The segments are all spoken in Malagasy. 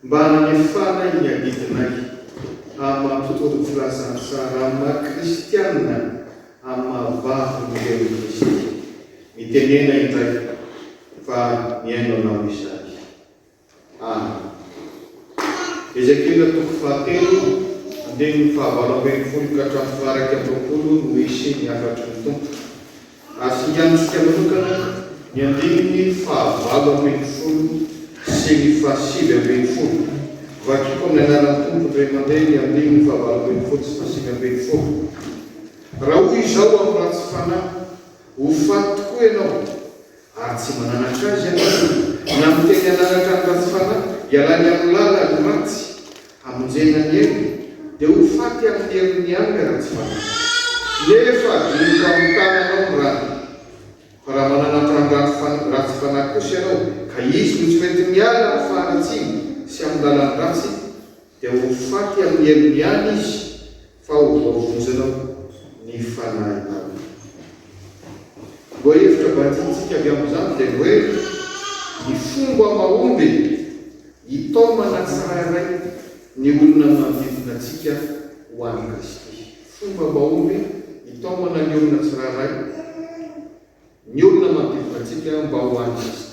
Mba hanefanay ny adidinay amin'ny maha-mpitory ny filazantsara amin'ny maha-kristiana amin'ny maha-vavy ny ren'i Kristy, mitenena indray fa mihaino anao izahay. Amen. Ezekiela toko fahatelo, andininy fahavalo ambin'ny folo ka hatramin'ny faha-iraika amby roapolo no hisy ny hafatry ny Tompo. Ary finganintsika manokana ny andininy fahavalo ambin'ny folo sy ny fahasivy ambin'ny folo. Vakiko amin'ny anaran'ny Tompo indray mandeha ny andininy fahavalo ambin'ny folo sy fahasivy ambin'ny folo. Raha hoy izao amin'ny ratsy fanahy, Ho faty tokoa ianao! Ary tsy mananatra azy ianareo. Ny amin'ny teny hananatra ny ratsy fanahy, ialany amin'ny lala ny ratsy, hamonjena ny ainy, dia ho faty amin'ny herin'ny any ilay ratsy fanahy. Nefa adinoko amin'ny tananao ny rany. Fa raha mananatra ny ratsy ratsy fanahy kosa ianao, ka izy no tsy mety miala amin'ny faharatsiany sy amin'ny lalan'ny ratsy, dia ho faty amin'ny herin'ny any izy, Fa ho voavonjena koa ny fanahy taloha. Ny lohahevitra badiantsika avy amin'izany dia ny hoe ny fomba mahomby hitaomana tsirairay ny olona manodidina antsika ho an'i Kristy. Fomba mahomby hitaomana ny olona tsirairay ny olona manodidina antsika mba ho an'i Kristy.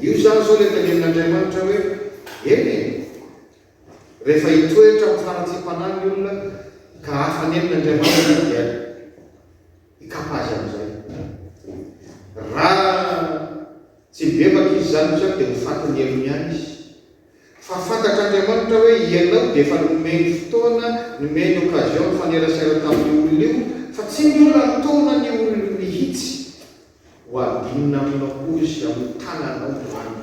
Io izany izao ilay tenenin'Andriamanitra hoe, Eny e! Rehefa hitoetra amin'ny faharatsiam-panahy ny olona ka hafa nenina Andriamanitra dia hikapa azy amin'izay. Raha tsy mibebaka izy izany intsony dia ho fatin'ny helony ihany izy. Fa fantatr'Andriamanitra hoe ianao dia efa nomeny fotoana, nomeny occasion nifanerasera tamin'io olona io fa tsy mbola nitaona ny olony mihitsy Ho adinina aminao koa izy amin'ny tananao izany.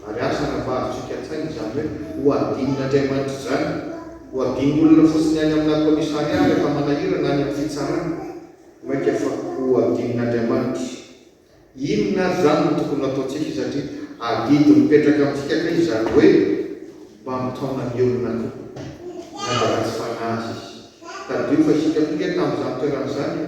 Ary aza anavahontsika an-tsaina izany hoe ho adinin'Andriamanitra izany. Ho adin'olona fotsiny any aminà kaomisarià rehefa manahira na any amin'ny fitsarana. Mainka fa ho adin'Andriamanitra. Inona ary izany no tokony ho ataontsika satria adidy mipetraka amintsika kay izany hoe mba mitaona ny olona koa na dia ratsy fanahy aza izy. Tadidio fa isika koa ange tamin'izany toerana izany e!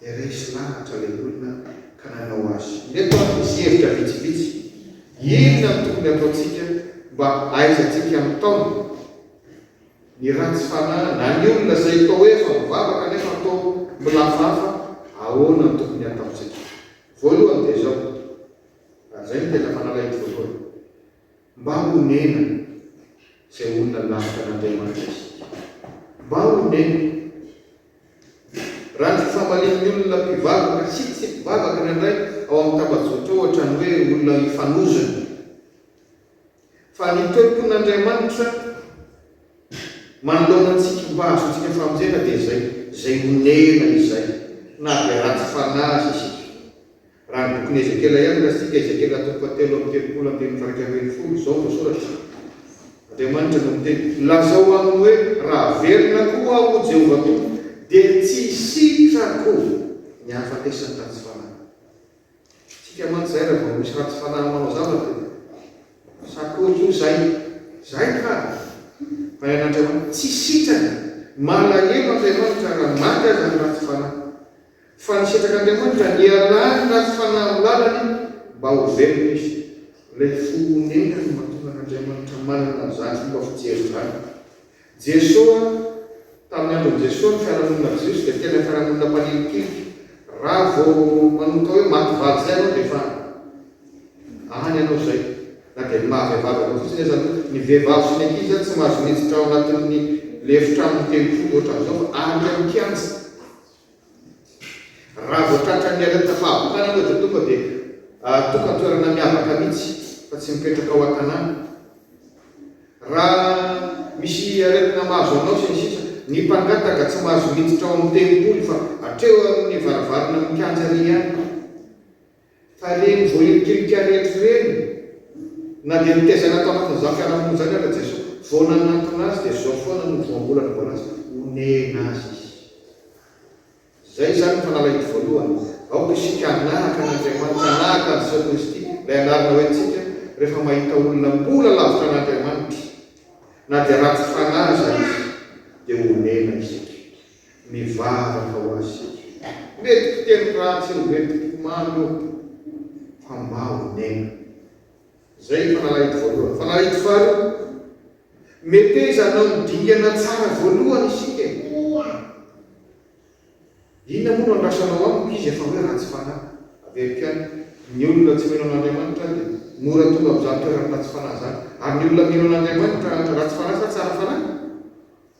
dia resy lahatra ilay olona ka nanao azy. Ireto ary misy hevitra vitsivitsy, Inona no tokony hataontsika mba hahaizantsika mitaona ny ratsy fanahy na ny olona izay toa hoe efa mivavaka nefa toa milafafa? Ahoana no tokony hataontsika? Voalohany dia izao, ary izay no tena fanalahidiny voalohany, Mba honena izay olona lavitra an'Andriamanitra isika. Mba honena. Raha ny fifamalian'ny olona mpivavaka sy tsy mpivavaka indraindray ao amin'ny tambajotra ohatra ny hoe olona ifanozona. Fa ny toe-pon'Andriamanitra manoloana antsika mba hahazoantsika famonjena dia izay, izay honena izay, na dia ratsy fanahy aza isika. Raha ny bokin'i Ezekiela ihany no resitsika, Ezekiela toko fahatelo amby telopolo andininy faharaika ambin'ny folo, izao no voasoratra, Andriamanitra no miteny. Lazao aminy hoe, Raha velona koa aho, hoy Jehovah Tompo, dia tsy hisitrako ny hahafatesan'ny ratsy fanahy. Isika mantsy izay raha vao misy ratsy fanahy manao zavatra dia, Sa koa io izay? Izay ka! Fa ny an'Andriamanitra, tsy sitrana. Malahelo Andriamanitra raha maty aza ny ratsy fanahy. Fa nisitraka Andriamanitra, nialany tany fanahy lalany mba ho velona izy. Ilay fo onena no mahatonga an'Andriamanitra manana an'izany fomba fijery izany. Jesoa, tamin'ny andron'i Jesoa ny fiarahamonina Jiosy dia tena fiarahamonina mpanilikilika. Raha vao manomboka hoe maty valy izay ianao dia efa any ianao izay. Na dia ny maha vehivavy anao fotsiny aza aloha. Ny vehivavy sy ny ankizy izany tsy mahazo miditra ao anatin'ny lefitra amin'ny tempoly ohatran'izao fa any amin'ny kianja. Raha vao tratran'ny aretina fahabokana ianao dia tonga dia tokan-toerana miavaka mihitsy fa tsy mipetraka ao an-tanàna. Raha misy aretina mahazo anao sy ny sisa Ny mpangataka tsy mahazo miditra ao amin'ny tempoly fa hatreo amin'ny varavarana mikianja ary ihany. Fa reny vao hitrika rehetra ireny na dia nitaiza an'i Antananana zafy ara-monina izany aza Jesoa, vao nanantona azy dia zao foana no voambola nivoala azy, onena azy izy. Izay izany ny fanalahidiko voalohany. Aoka isika hanahaka an'Andriamanitra, hanahaka an'i Jesoa Kristy, ilay anarana hoe antsika, rehefa mahita olona mbola lavitra an'Andriamanitra, na dia ratsy fanahy aza izy, dia onena isika. Mivavaka ho azy isika. Mety fiteny ratsy eo ve ny po mamy eo fa mba ho nena. Izay ny fanalahito voalohany. Fanalahito faharoa, Meteza hanao ny dingana tsara voalohany isika e. Koa inona moa no andrasanao amiko izy efa hoe ratsy fanahy. Averiko ihany, ny olona tsy mino an'Andriamanitra dia mora tonga amin'izany toeran'ny ratsy fanahy izany. Ary ny olona mino an'Andriamanitra ratsy fanahy sa tsara fanahy?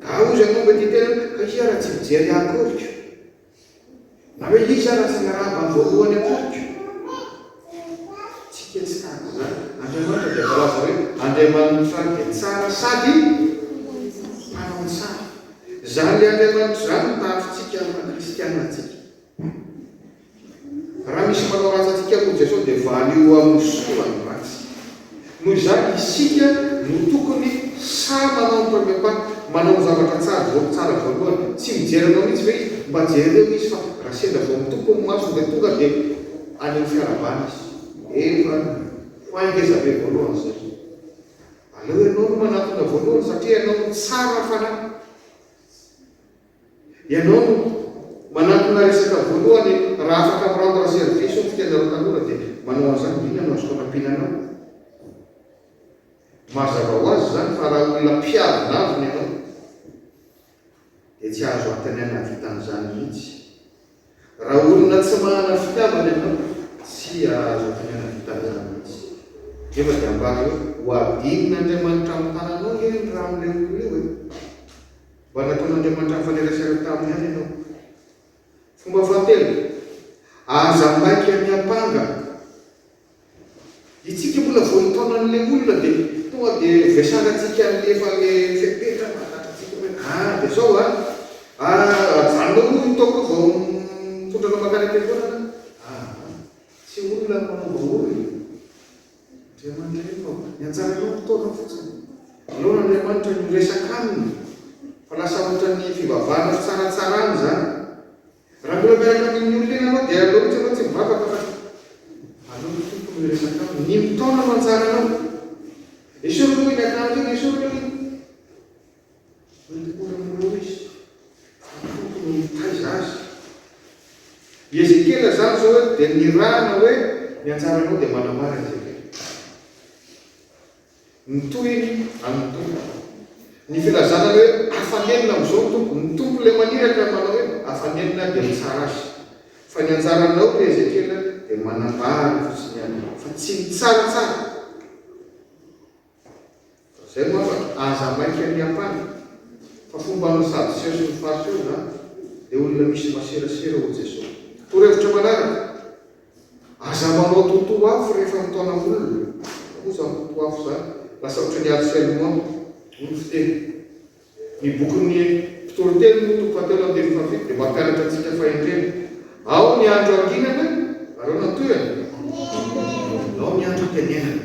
Gaga ozy hanova ity tena ka iza raha tsy mijery ahy akoriko? Na hoe iza raha tsy hanarahaba ny voalohany akoriko? Tsy hetsahako izany. Andriamanitra dia voalaza hoe Andriamanitra dia tsara sady mpanao tsara. Izany Andriamanitra izany no tahafintsika maha kristiana antsika. Raha misy manao ratsy antsika koa Jesosy dia valio ho amin'ny soa ny ratsy. Noho izany isika no tokony sahy manao ny premier pas, manao ny zavatra tsara voa tsara voalohany. Tsy mijery anao mihitsy ve izy? Mba jereo izy fa raha sendra vao mitopy ny masony dia tonga dia any amin'ny fiarahabana izy. Efa ho ahy ngeza be voalohany izay. Aleo ianao no manatona voalohany satria ianao no tsara fanahy. Ianao no manatona resaka voalohany raha afaka mi rendre service ohatra ka ianareo tanora dia manao an'izany dia inona no azoko anampiana anao? Mazava ho azy izany fa raha olona mpiaro lavina ianao dia tsy azo antony hanavita an'izany mihitsy. Raha olona tsy manana fitiavana ianao tsy azo antony hanavita an'izany mihitsy. Nefa dia ambara hoe ho hadinin'Andriamanitra amin'ny tananao ange ny ran'ilay olona io e! Mba nataon'Andriamanitra nifanerasera taminy ihany ianao. Fomba fahatelo, aza maika miampanga. Itsika mbola vao nitaona an'ilay olona dia tonga dia vesarantsika an'ilay efa ilay fepetra mahatatr'antsika hoe ah dia zao ah, ah ajanonao aloha io toaka io vao mitondra anao mankany am-piangonana ah, tsy olona manaova olona. Ry aman-dreniko ô, nianjaranao ny taona fotsiny. Aleo an'Andriamanitra ny ho resaka aminy fa lasa ohatran'ny fivavahana fitsaratsarana izany. Raha mbola miaraka amin'ny olona iny anao dia aleo mihitsy ianao tsy mivavaka fa aleo ny Tompo no hiresaka aminy. Ny ny taona no anjaranao. Esory aloha iny, akanjo iny, esory aloha iny. Manontolo ny roa izy, ny Tompo no mitaiza azy. I Ezekiela izany izao eto dia nirahana hoe ny anjaranao dia manambara an'i Ezekiela. Ny tohiny an'ny Tompo. Ny filazana hoe afanenina amin'izao ny Tompo. Ny Tompo ilay maniraka manao hoe afanenina dia mitsara azy. Fa ny anjaranao ry Ezekiela dia manambara fotsiny ihany fa tsy mitsaratsara. Zay no afaka, aza maika miampanga fa fomba an'ny sadoseo sy ny fariseo zany, le olona misy maserasera ho Jeso. Torohevitra manaraka, aza manao toto afo rehefa mitaona olona, fa moa zany toto afo zany lasa ohatry ny harcèlement hoy ny fiteny. Ny bokin'ny Mpitoriteny moa toko fahatelo andininy fahafito dia mampianatra antsika fahendrena, ao ny andro hanginana, aleo nantohana, ao ny andro am-piainenana.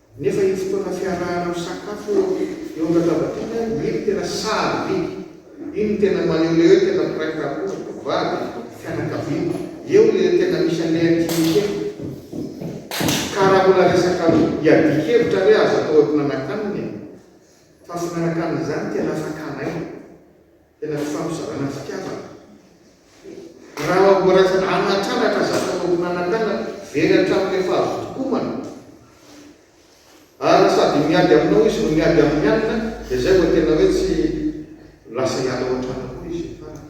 Nefa io fotoana fiarahana misakafo eo eo amin'ny latabatsika iny no tena sarobidy, iny no tena maneho ilay hoe tena mpiray tampo, mpivady, fianakaviana. Eo ilay tena misy an'ilay intimité. Ka raha mbola resaka iadian-kevitra re aza atao hoe mpinanankanina e! Fa finanan-kanina izany tena fakana aina. Tena fifampizarana fitiavana. Raha mbola anatraratra zavatra mampimanakana, very hatramin'ny fahavotokomana, ary sady miady aminao izy no miady amin'ny alina, dia izay vao tena hoe tsy lasa hiala ao an-trano koa izy farany.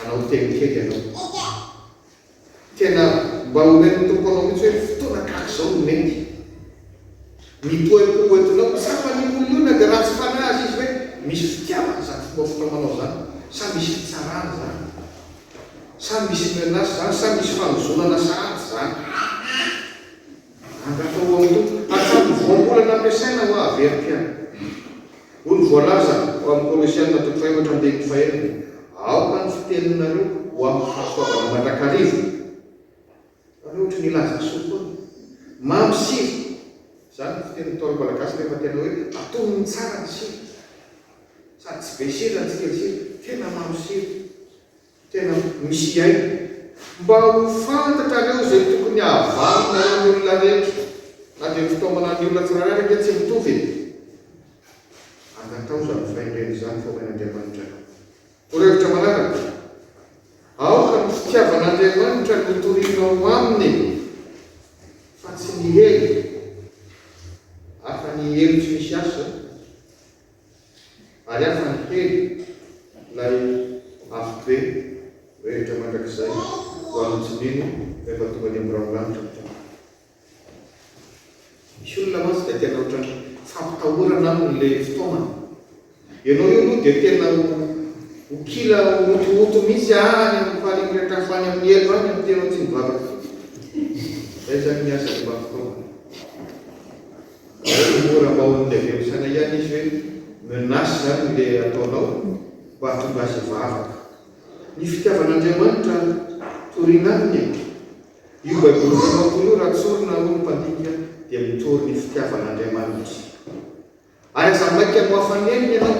Anao teny kely ianao. Tena mba omen'ny Tompo anao mihitsy hoe fotoana tahaka izao no mety. Mipoapoa hoentinao. Tsapa ny olona dia ratsy fanahy aza izy hoe misy fitiavana izany fomba fitaomanao izany, sa misy fitsarana izany, sa misy menace izany, sa misy fanozonana sahady izany. Angamba ho amin'ny hatramin'ny voambolana nampiasaina ho haverim-piainana. Hoy ny voalaza ao amin'ny Kolosiana toko fahefatra ambin'ny fahenina, Aoka ny fiteninareo ho amim-pahasoavana mandrakariva. Fa ve ohatry ny hilaza ny soa foana? Mamy sira. Izany no fitenin'ny Ntaolo malagasy rehefa tena hoe atonony tsara ny sira. Sady tsy be sira no tsy kely sira. Tena mamy sira. Tena misy hiaina. Mba ho fantatrareo izay tokony hahavalinareo ny olona rehetra, na dia ny fitaomana ny olona tsirairay ary ange tsy mitovy e! Angatao izany fahendrena izany fa omen'Andriamanitra anao. Ho revitra manaraka, Aoka ny fitiavan'Andriamanitra no torianao aminy fa tsy ny hery, hafa ny hery tsy misy asa. Ary aza mihena ilay afo be mirehitra mandrakizay ho an'ny tsy mino rehefa tonga any amin'ny raholanitra ny Tompo. Misy olona mantsy dia tena ohatran'ny fampitahorana aminy ilay fitaomana. Ianao io aloha dia tena ho kila hotohoto mihitsy any amin'ny faharemirehitra hafa any amin'ny elo any amin'ny tenao tsy mivavaka fotsiny. Izay izany ny asan'ny mba fitaomana. Ary moa raha mba olona avy any Sanay ihany izy hoe menace izany ilay ataonao mba hahatonga azy hivavaka? Ny fitiavan'Andriamanitra torina aminy e! Io Baiboly famakoana io raha tsorina hoy ny mpandinika dia mitory ny fitiavan'Andriamanitra. Ary aza maika ho afa-nenina ianao.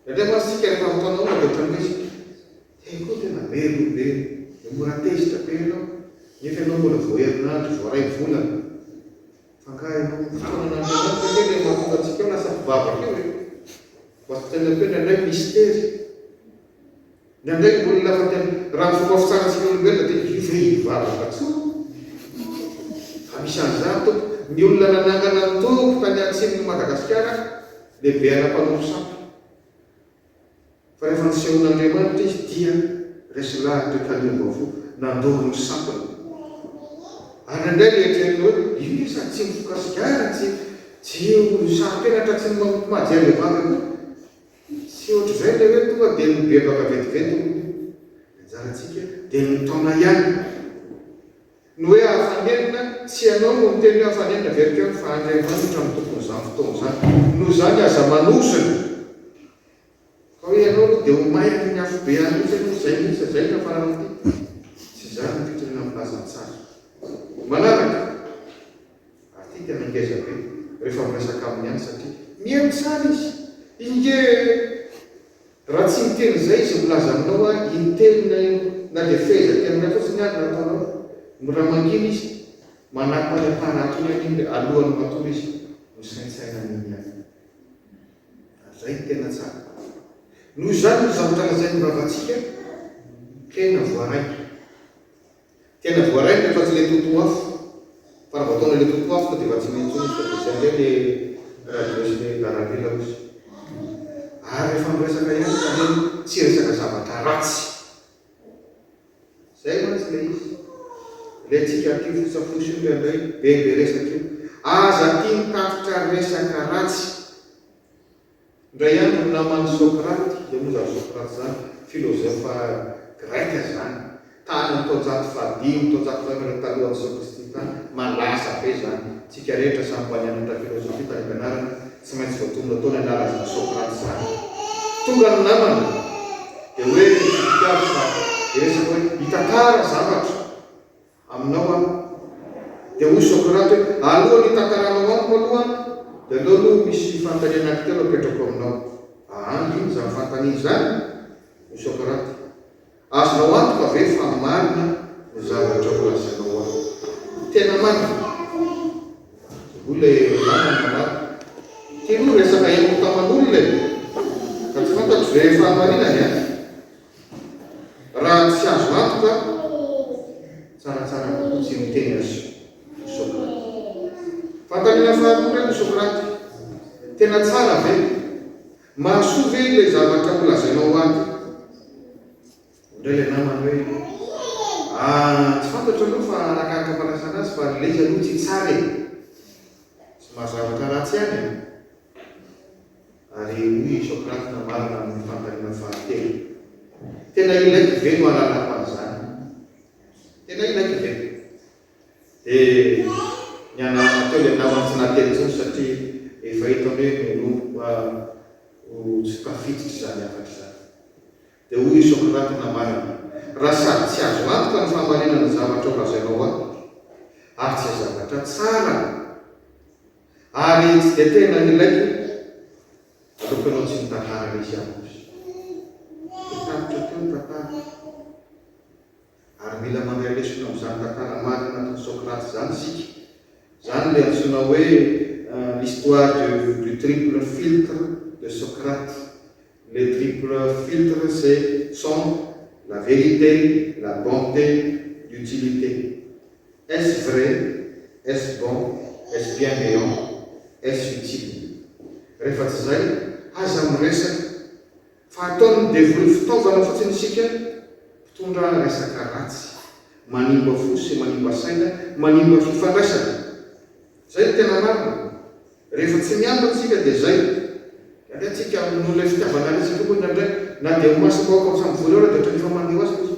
Indraindray mantsy isika rehefa ataonao olona dia ohatran'ny hoe izy Hey koa tena merina be dia mora tezitra be ianao nefa ianao mbola vao herinandro, vao iray volana. Angaha efa ho fotoanan'Andriamanitra ve ilay mahatonga antsika ho lasa mpivavaka io e? Mba tsaino atoy ny anay mistery. Ny anay olona afa-tsy ny, raha ny fomba fitsarantsika olombelona dia livré hivavaka intsony. Fa misy an'izany Tompo. Ny olona nanangana ny Tompo tany atsimon'i Madagasikara, lehibe ara-panofosampy. Fa rehefa nisehoan'Andriamanitra izy dia resy lahatra ka niova-fo, nandoro ny sampiny. Ary indray noeritreretiny hoe, Io ve sady tsy mifoka sigara, tsy tsy olo saropenatra, tsy manompo majia bevava koa? Tsy ohatr'izay ilay hoe tonga dia mibebaka vetivety ny loha. Ny anjarantsika dia mitaona ihany. Ny hoe hahafanenina, tsy ianao no miteny hoe hafanenina ve ry Pihato fa Andriamanitra no tompon'izany fotoana izany. Noho izany aza manozona fa hoe ianao aloha dia ho may amin'ny afobe any mihitsy ianao, izay mihitsy, izay no hiafarana aty. Tsy izany ny fitoriana amin'ny lazantsara. Manaraka, ary ity tena ngeza be rehefa miresaka aminy ihany satria miely tsara izy. Inge e! Raha tsy miteny izay izy milaza aminao a intelo na eo na dia fehezan teny iray fotsiny ary no ataonao no raha mangina izy manampy manentana atony any indry alohany matory izy misaintsaina an'iny ihany ary izay no tena tsara noho izany ny zavatra lazain'ny vavantsika tena voaraiko Tena voarainitra fa tsy le toto afo fa raha vao ataonao le toto afo dia efa tsy mety intsony izy fa dia zay indray le radio sy le darabe larozy ary rehefa miresaka ihany ka anie tsy resaka zavatra ratsy zay mantsy le izy le tsika aty fosa fosa io indraindray be be resaka io aza aty mitatitra resaka ratsy Indray andro naman'i Socrate, dia moa izany Socrate izany filozofa greka izany, tany amin'ny taonjato fahadimy, taonjato fahefatra talohan'i Jesoa Kristy tany, malaza be izany, tsika rehetra samy mba nianatra filozofia tany am-pianarana, tsy maintsy voatonona tao ny anarany izany Socrate izany. Tonga ny namana, dia hoe, Nitsidika azy fa, dia resaka hoe, mitantara zavatra. Aminao aho. Dia hoy Socrate hoe, Alohan'ny hitakaranao amiko aloha, dia aleo aloha misy fanontaniana anankitelo apetrako aminao. Aa, inona izany fanontaniana izany? Hoy Socrate, Azonao antoka ve fa marina ny zavatra holazainao ahy? Tena marina? Hoy ilay namany namaly, Ity aloha resaka henoko taman'olona e! Ka tsy fantatro ve fahamarinany an? Raha tsy azo antoka tsaratsara kokoa tsy miteny azy ry Socrate. Fanontaniana faharoa indray ry Socrate, tena tsara ve? Mahasoa ve ilay zavatra ho lazainao ato? Indray ilay namany hoe, ah tsy fantatro aloha fa arakaraka fandraisana azy fa ilay izy aloha tsy tsara e! Tsy maha zavatra ratsy ihany an! Ary hoy i Socrate nambarana amin'ny fandaniana fahatelo, Tena ilaiko ve no halalako an'izany? Tena ilaiko ve? Dia nianarana teo ilay namany tsy nahateny intsony satria efa hitany hoe menomboka ho tsy tafiditra izany hafatra izany. Dia hoy i Socrate nambarany, Raha sady tsy azo antoka ny fahamarinana ny zavatra ho lazainao ahy, ary tsy zavatra tsara, ary tsy dia tena ilaiko, aleoko ianao tsy mitantara Lysiakos. Dia tapitra teo ny tantara. Ary mila mandray lesona amin'izany tantara marina nataon'i Socrate izany isika. Izany ilay antsoina hoe l'histoire de du triple filtre de Socrate. Le triple filtre c'est, sont, la vérité, la bonté, l'utilité. Est-ce vrai? Est-ce bon? Est-ce bienveillant? Est-ce utile? Rehefa tsy izay, aza miresaka! Fa ataon'ny devoly fitaovana fotsiny isika mpitondra resaka ratsy, manimba fo sy manimba saina, manimba fifandraisana. Zay no tena marina. Rehefa tsy miambina isika dia zay. Alehantsika noho ilay fitiavana resaka koa indraindray. Na dia ho masom-bahoaka aza mivory ao ary dia ohatran'ny efa mandeha ho azy ilay izy.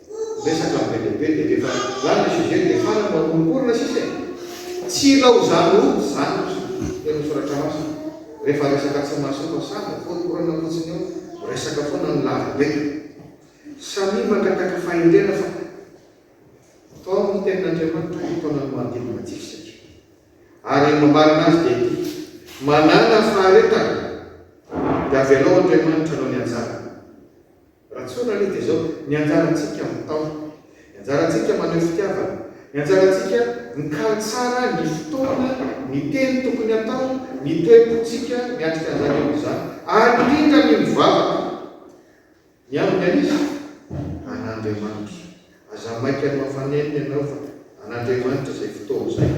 Resaka be dia be dia rehefa lany le sujet dia fara no akoronkorona sisa e! Tsy ilaozany ho zatra eny am soratra masina, rehefa resaka tsy mahasoa sahy no akoronkorana fotsiny eo, miresaka foana ny lava be. Samia mangataka fahendrena fa tao am tenin Andriamanitra ny taona no manodidina antsika satria ary mambarana azy dia ity, manana faharetana dia avelao Andriamanitra hanao ny anjarany. Raha tsorina aloha dia izao, ny anjarantsika mitaona, ny anjarantsika maneho fitiavana, ny anjarantsika mikaly tsara ny fotoana, ny teny tokony hatao, ny toe-pontsika miatrika an'izany eo amin'izany, ary indrindra ny mivavaka ny amin'ny an'iza? An'Andriamanitra. Aza maika nohafanenina ianao fa an'Andriamanitra izay fotoana izay.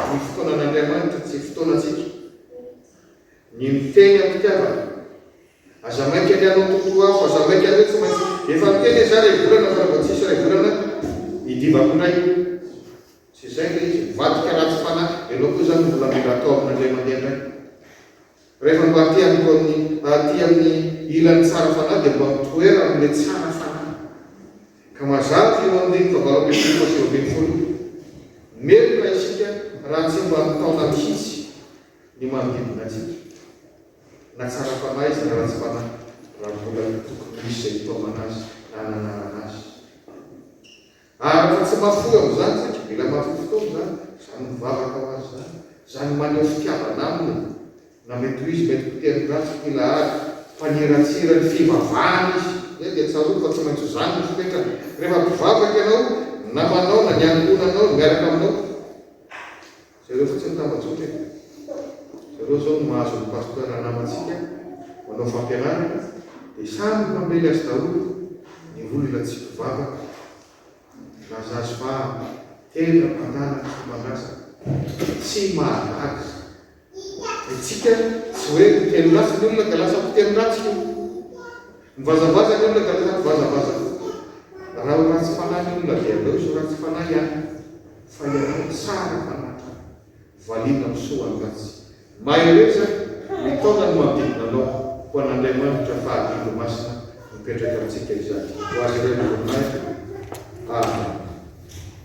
Ny fotoanan'Andriamanitra tsy fotoanantsika. Ny miteny am-pitiavana, Aza maika ny hanao totoafo, aza maika ny hoe tsy maintsy, efa niteny izaho iray volana fa rehefa tsisy iray volana nidivako indray, tsy izay ilay izy, mivadika ratsy fanahy, ianao koa izany mbola mila atao aminy indray mandeha indray, rehefa mba aty amiko amin'ny aty amin'ny ilany tsara fanahy dia mba mitoera amin'ilay tsara fanahy, ka mazava fa io andininy fahavalo ambin'ny folo fa sivy ambin'ny folo io, meloka isika raha tsy mba mitaona mihitsy ny manodidina antsika. Na tsara fanahy izy na ratsy fanahy, raha mbola tokony ho misy izay hitaomana azy na hananarana azy. Ary raha tsy mahafoy amin'izany, satria mila mahafoy fotoana izany, izany mivavaka ho azy izany, izany maneho fitiavana aminy, na mety ho izy mety ho teny ratsy, mpila ady, mpaniratsira ny fivavahana izy, eny dia tsarovy fa tsy maintsy izany no fipetrany, rehefa mpivavaka ianao, ny namanao na ny ankohonanao miaraka aminao. Zareo fotsiny tambajotra e! Zareo zao no mahazo ny pasteur namantsika manao fampianarana dia samy mpamely azy daholo ny olona tsy mpivavaka na zazy vavy tena mpanala fomban-drazana tsy mahagaga ny tsika tsy hoe mpiteny ratsy ny olona ka lasa mpiteny ratsy io Mivazavaza ny olona dia lasa mivazavaza kokoa. Raha ho ratsy fanahy ny olona dia aleo izy ho ratsy fanahy ihany fa ianao tsara fanahy ka valiana amin'ny soa ny ratsy. Mahereza mitaona ny manodidina anao ho an'Andriamanitra fa adidy masina mipetraka amintsika izany. Ho azy ireo ny voninahitra. Amen.